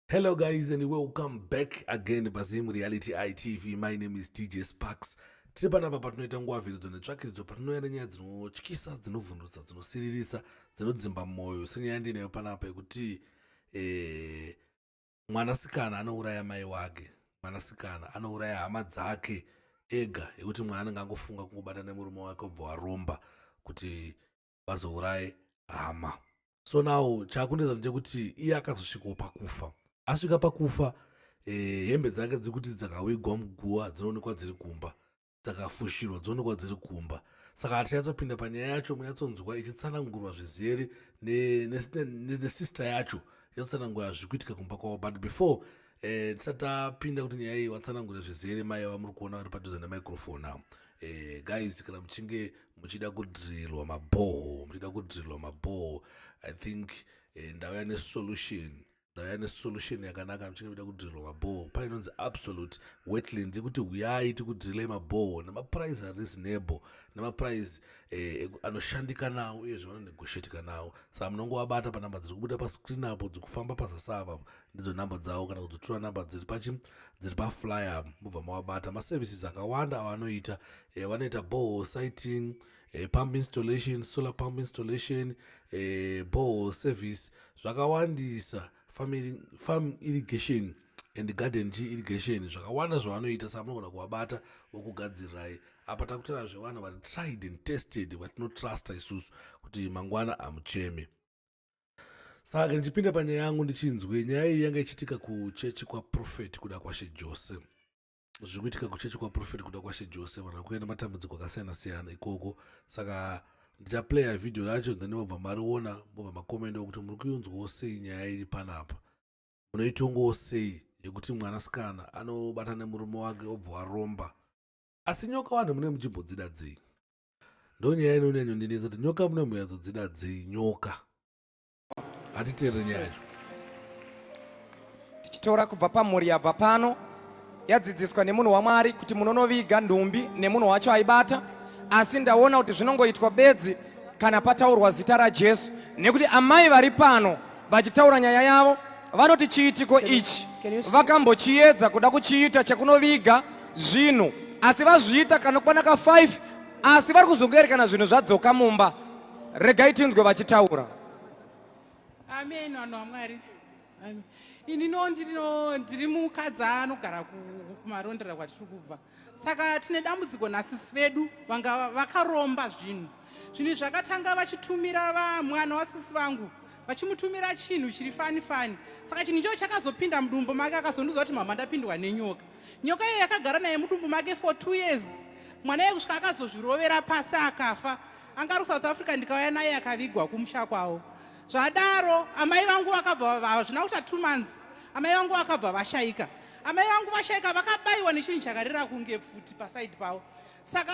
Hello guys and welcome back again paZim Reality ITV. My name is DJ Sparks. Tiri panapa patinoita nguva vhiridzo netsvakiridzo patinouya nenyaya dzinotyisa, dzinovhundutsa, dzinosiririsa, dzinodzimba mwoyo. Senyaya ndinayo panapa yekuti eh, mwanasikana anouraya mai wake, mwanasikana anouraya hama dzake ega yekuti mwana anenge angofunga kungobata nemurume wake obva waromba kuti vazouraye hama so now chakunetsa ndechekuti iye akazosvikawo pakufa asvika pakufa eh, hembe dzake dziri kuti dzakawigwa muguva dzinoonekwa dziri kumba dzakafushirwa dzoonekwa dziri kumba saka hatichatsopinda panyaya yacho munyatsonzwa ichitsanangurwa zvizere nesister yacho ichatsonangura zviri kuitika kumba kwavo but before Eh, tisati tapinda kuti nyaya iyi vatsanangure zvizere mai vamuri kuona vari padhuze nemicrofone avo eh, guys kana muchinge muchida kudhirirwa mabhoho muchida kudhirirwa mabhoho i think eh, ndauya nesolution ndauya nesolution yakanaka muchinge muchida kudhirirwa mabhoho pane inonzi absolute wetland yekuti huyai tikudhirirei mabhoho nemaprize ari reasonable nemaprize eh, anoshandika nawo uyezve vanonegotiatika nawo saka munongowabata panamba dziri kubuda pascreen apo dzikufamba pazasava ndidzo number dzavo kana kudzitora number dziri pachi dziri paflyer mobva mawabata maservices akawanda avanoita eh, vanoita boho siting eh, pump installation solar pump installation eh, boho service zvakawandisa farm irrigation and garden chi irrigation zvakawanda zvavanoita saka munogona kuvabata vokugadzirirai apa takutaura zvevanhu vari tried and tested vatinotrusta isusu kuti mangwana hamucheme saka ndichipinda panyaya yangu ndichinzwe nyaya iyi yanga ichiitika kuchechi kwaprofeti kuda kwashe jose zviri kuitika kuchechi kwaprofeti kuda kwashe jose vanhu vakuenda matambudziko akasiyana siyana ikoko saka ndichaplaya vhidhiyo racho then mobva mariona mobva makomenda okuti muri kuyunzwawo sei nyaya iri panapa munoitongawo sei yekuti mwanasikana anobatana nemurume wake obva waromba asi nyoka vanhu mune muchimbodzida dzei ndonyaya inonyanyondinetsa kuti nyoka munomuyadzodzida dzei nyoka hatiteerere nyaya yacho tichitora kubva pamhuri yabva pano yadzidziswa nemunhu wamwari kuti munonoviga nhumbi nemunhu wacho aibata asi ndaona kuti zvinongoitwa bedzi kana pataurwa zita rajesu nekuti amai vari pano Vachitaura nyaya yavo, vanoti chiitiko ichi vakambochiedza kuda kuchiita chekunoviga zvinhu asi vazviita kanokwana ka 5 asi vari kuzongoerekana zvinhu zvadzoka mumba regai tinzwe vachitaura amen vanhu vamwari ini no ndiri mukadzi anogara kumarondera kwatiri kubva saka tine dambudziko nasisi vedu vanga vakaromba zvinhu zvinhu zvakatanga vachitumira vamwana wasisi vangu vachimutumira chinhu chiri fani fani saka chinhu ichocho chakazopinda mudumbu make akazondiudza kuti mama ndapindwa nenyoka nyoka iyo yakagara naye mudumbu make for two years mwana iye kusvika akazozvirovera pasi akafa anga ari kusouth africa ndikauya naye akavigwa kumusha kwavo zvadaro amai vangu vakabva hazvina kuita two months amai vangu vakabva vashaika Amai vangu vashaika vakabaiwa nechinhu chakarira kunge pfuti pasaidi pavo saka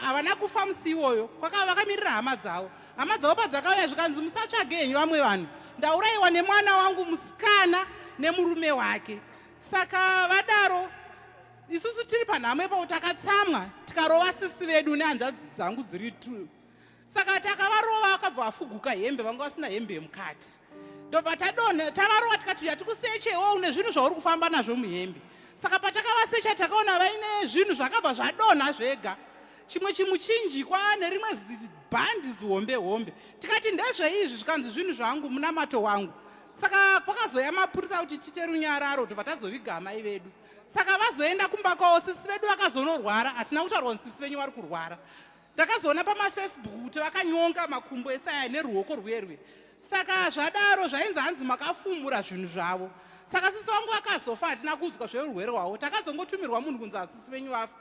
havana kufa musi iwoyo kwakava vakamirira hama dzavo hama dzavo padzakauya zvikanzi musatsvage henyu vamwe vanhu ndaurayiwa nemwana wangu musikana nemurume wake saka vadaro isusu tiri panhamo ipapo takatsamwa tikarova sisi vedu nehanzvadzi dzangu dziri two saka ati akavarova akabva afuguka hembe vanga vasina hembe yemukati ndobva tadonha tavarova tikati uya tikusechewo une zvinhu zvauri kufamba nazvo muhembe saka patakavasecha takaona vaine zvinhu zvakabva zvadonha zvega chimwe chimuchinjikwa nerimwe zibhandi zihombe hombe tikati ndezveizvi zvikanzi zvinhu zvangu munamato wangu saka kwakazouya mapurisa kuti tite runyararo tobva tazoviga amai vedu saka vazoenda kumba kwavo sisi vedu vakazonorwara hatina kutaurwa kuti sisi venyu vari kurwara Ndakazoona pamafacebook kuti vakanyonga makumbo esaya neruoko rwerwe. Saka zvadaro zvainzi hanzi makafumura zvinhu zvavo. Saka sisi wangu vakazofa hatina kuzwa zveurwere hwavo. Takazongotumirwa munhu kunzi hasisi venyu vafa.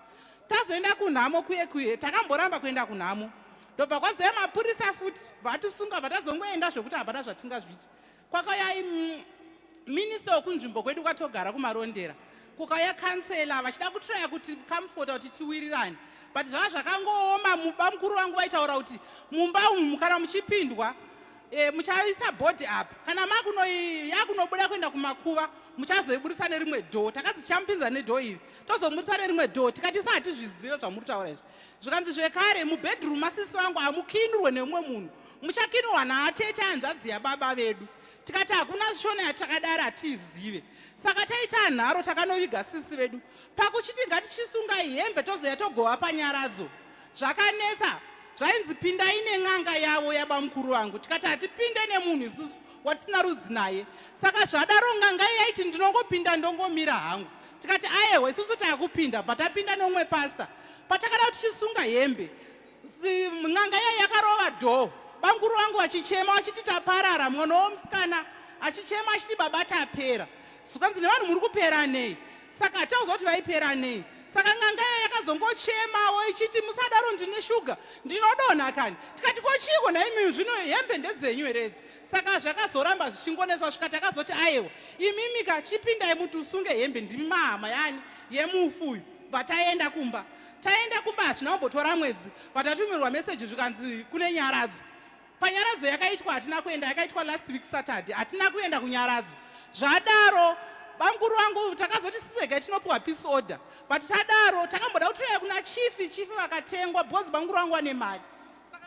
Tazoenda kunhamo kuye kuye takamboramba kuenda kunhamo. Ndobva kwazouya mapurisa futi vatisunga bva tazongoenda zvekuti hapana zvatingazviita. Kwakauya minista wekunzvimbo kwedu kwatogara kumarondera kukauya kansela vachida kutraya kuti kamfota kuti tiwirirane but zvava zvakangooma muba mukuru vangu vaitaura kuti mumba umu mukana muchipindwa e, muchaisa bhodhi apa kana makunoyakunobuda kuenda kumakuva muchazoibudisa nerimwe dhoo takazi chamupinza nedhoo iri tozomudisa nerimwe dhoo tikati sa hatizvizive zvamuri kutaura izvi zvikanzi zvekare mubedroom masisi vangu hamukinurwe neumwe munhu muchakinurwa naacheche hanzvadzi yababa vedu tikati hakuna shona yatakadari hatiizive saka taitaa nharo takanoviga sisi vedu pakuchiti ngatichisungai hembe tozoya togova panyaradzo zvakanetsa zvainzi pindai nen'anga yavo yabamukuru vangu tikati hatipinde nemunhu isusu watisina rudzi naye saka zvadaro n'anga yaiti ndinongopinda ndongomira hangu tikati ayewa isusu takupinda bva tapinda neumwe pasta patakada kuti tichisunga hembe n'anga yai yakarova dhoo banguru vangu vachichema vachiti taparara mwana womusikana achichema achiti baba tapera zvikanzi nevanhu muri kupera nei saka hatauza kuti vaipera nei saka n'anga yai yakazongochemawo ichiti musadaro ndine shuga ndinodonha kani tikati ko chiiko nhaimiyu zvino hembe ndedzenyu heredzi saka zvakazoramba zvichingonetsa svika takazoti ayewa imimika chipindai muti usunge hembe ndimi mahama yani yemufu uyu bva taenda kumba taenda kumba hazvina kumbotora mwedzi vatatumirwa meseji zvikanzi kune nyaradzo panyaradzo yakaitwa hatina kuenda yakaitwa last week saturday hatina kuenda kunyaradzo zvadaro bamukuru vangu takazoti sisega tinopiwa peace order but tadaro takamboda kutoya kuna chifi chifi vakatengwa because bamukuru vangu vane mari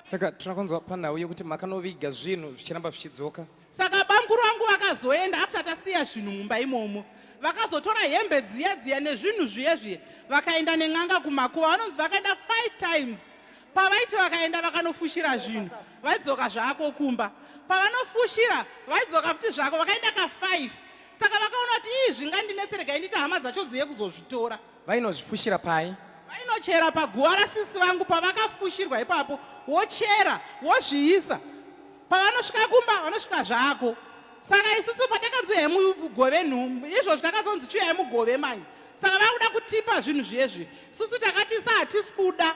saka tinoda kunzwa panhau yekuti makanoviga zvinhu zvichiramba zvichidzoka saka bamkuru vangu vakazoenda after tasiya zvinhu mumba imomo vakazotora hembe dziya dziya nezvinhu zviye zviye vakaenda nen'anga kumakuva vanonzi vakaenda five times pavaiti vakaenda vakanofushira zvinhu vaidzoka zvako kumba pavanofushira vaidzoka futi zvako vakaenda kafive saka vakaona kuti ii zvingandinetseregai nditi hama dzacho dziye kuzozvitora Vainozvifushira pai? Vainochera paguva rasisi vangu pavakafushirwa ipapo wochera wozviisa pavanosvika kumba vanosvika zvako saka isusu patakanzi uyai mugove nhumbu izvozvi takazonzi chiuyai mugove manje saka vakuda kutipa zvinhu zviye zviye susu takatisa hatisi kuda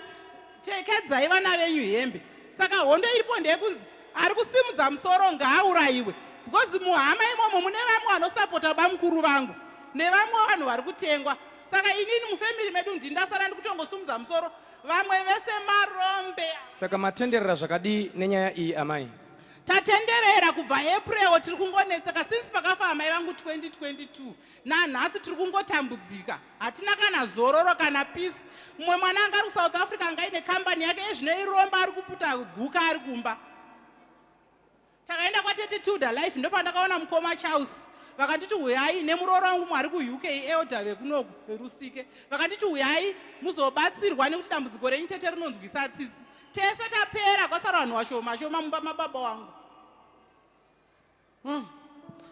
pfekedzai vana venyu hembe saka hondo iripo ndeyekunzi ari kusimudza musoro ngaaurayiwe because muhama imomo mune vamwe vanosapota bamukuru vangu nevamwe vanhu vari kutengwa saka inini mufemiri medu ndindasara ndikutongosumudza musoro vamwe vese marombe saka matenderera zvakadii nenyaya iyi amai tatenderera kubva april tiri kungonetseka since pakafa amai vangu 2022 nanhasi tiri kungotambudzika hatina kana zororo kana peace mumwe mwana anga ari kusouth africa anga aine kambani yake ezvino iromba ari kuputa guka ari kumba takaenda kwatete tilda life ndopandakaona mukoma charles vakanditi huyai nemuroora wangu mwari kuuk elder vekunoku verusike vakanditi huyai muzobatsirwa nekuti dambudziko renyu tete rinonzwisa tsisi tese tapera kwasara vanhu washoma shoma mumba mababa wangu Mm.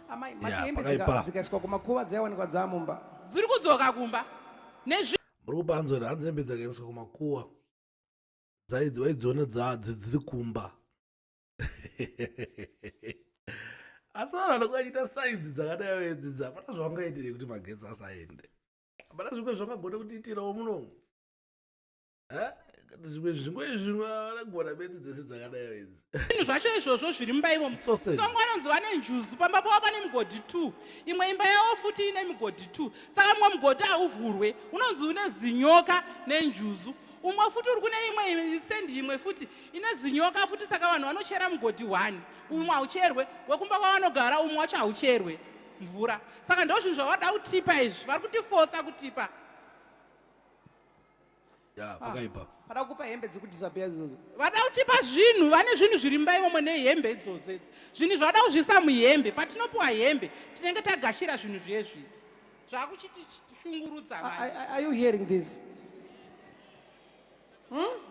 Amai, mati yeah, hembe dzikaiswa kumakuva dzaiwanikwa dzamumba. Dziri kudzoka kumba. Nezvi muri kupanzwa kuti hanzi hembe dzakaendeswa kumakuwa vaidziona dziri kumba asi vanhu vanokuva achiita sainzi dzakadai vedzidza hapana zvavangaitire kuti magetsi asaende hapana zvimwe zvangagona kutiitirawo munomu zvimwe zvimwe zvimwe vanogona bedzi dzese dzakadayo idzi zvinhu zvacho izvozvo zviri mumba ivomo songo anonzi vane njuzu pamba pavo pane migodhi two imwe imba yavo futi ine migodhi two saka mumwe mugodhi hauvhurwe unonzi une zinyoka nenjuzu umwe futi uri kune imwe stendi imwe futi ine zinyoka futi saka vanhu vanochera mugodhi one umwe haucherwe wekumba kwavanogara umwe wacho haucherwe mvura saka ndozvinhu zvavada kutipa izvi vari kutifosa kutipa ya pakaipa ah, pada kupa hembe dzekudisappear idzodzo vada kutipa zvinhu vane zvinhu zviri mumba imomo nehembe idzodzo idzi zvinhu zvavada kuzviisa muhembe patinopiwa hembe tinenge tagashira zvinhu zvezvi zvakuchitishungurudza are you hearing this hmm?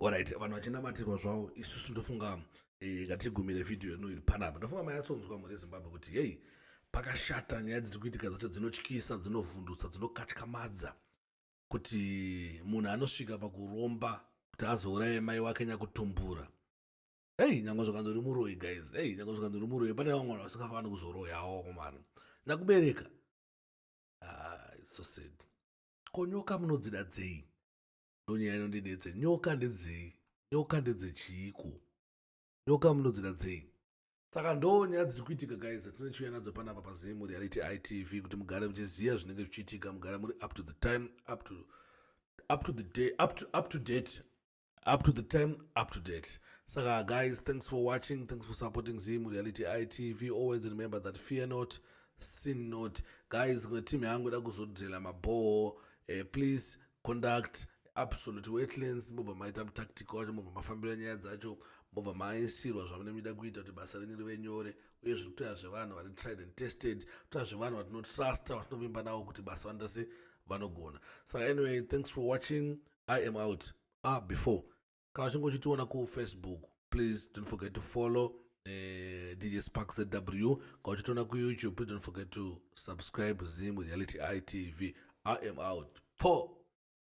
Alright, vanhu vachinamatirwa zvavo isusu ndofunga eh, ngatigumire vhidhiyo ino iri panapa. Ndofunga mayatsonzwa mhuri yeZimbabwe kuti heyi pakashata nyaya dziri kuitika dzacho dzinotyisa dzinovhundutsa dzinokatyamadza kuti munhu anosvika pakuromba kuti azouraye mai wake nyakutumbura hei nyange zvakanzi uri muroyi guys hei nyange zvakanzi uri muroyi pane vamwe vanhu vasingafani kuzoroyawo komana nyakubereka ah, so sad konyoka munodzida dzei ndonyaya inondinetsa nyoka ndedzei nyoka ndedzechiiko nyoka munodzida dzei saka ndo nyaya dziri kuitika guys dzatine chiuya nadzo panapa pazim reality itv kuti mugare muchiziva zvinenge zvichiitika mugare muri up to the time up to, up to the day up to, up to date up to the time up to date saka guys thanks for watching thanks for supporting zim reality itv always remember that fear not sin not guys team yangu ida kuzodhela mabhoo eh, please conduct absolute wetlands mobva maita mutactic wacho mobva mafambira nyaya dzacho mobva mainsirwa zvamunenge muchida kuita kuti basa renyu rive nyore uye zviri kutoya zvevanhu vari tried and tested toya zvevanhu vatinotrusta vatinovimba navo kuti basa vanoita se vanogona saka anyway thanks for watching i am out ah before kana uchinge uchitiona kufacebook please don't forget to follow uh, dj spark zw kana uchitiona kuyoutube please don't forget to subscribe zim reality itv i am out po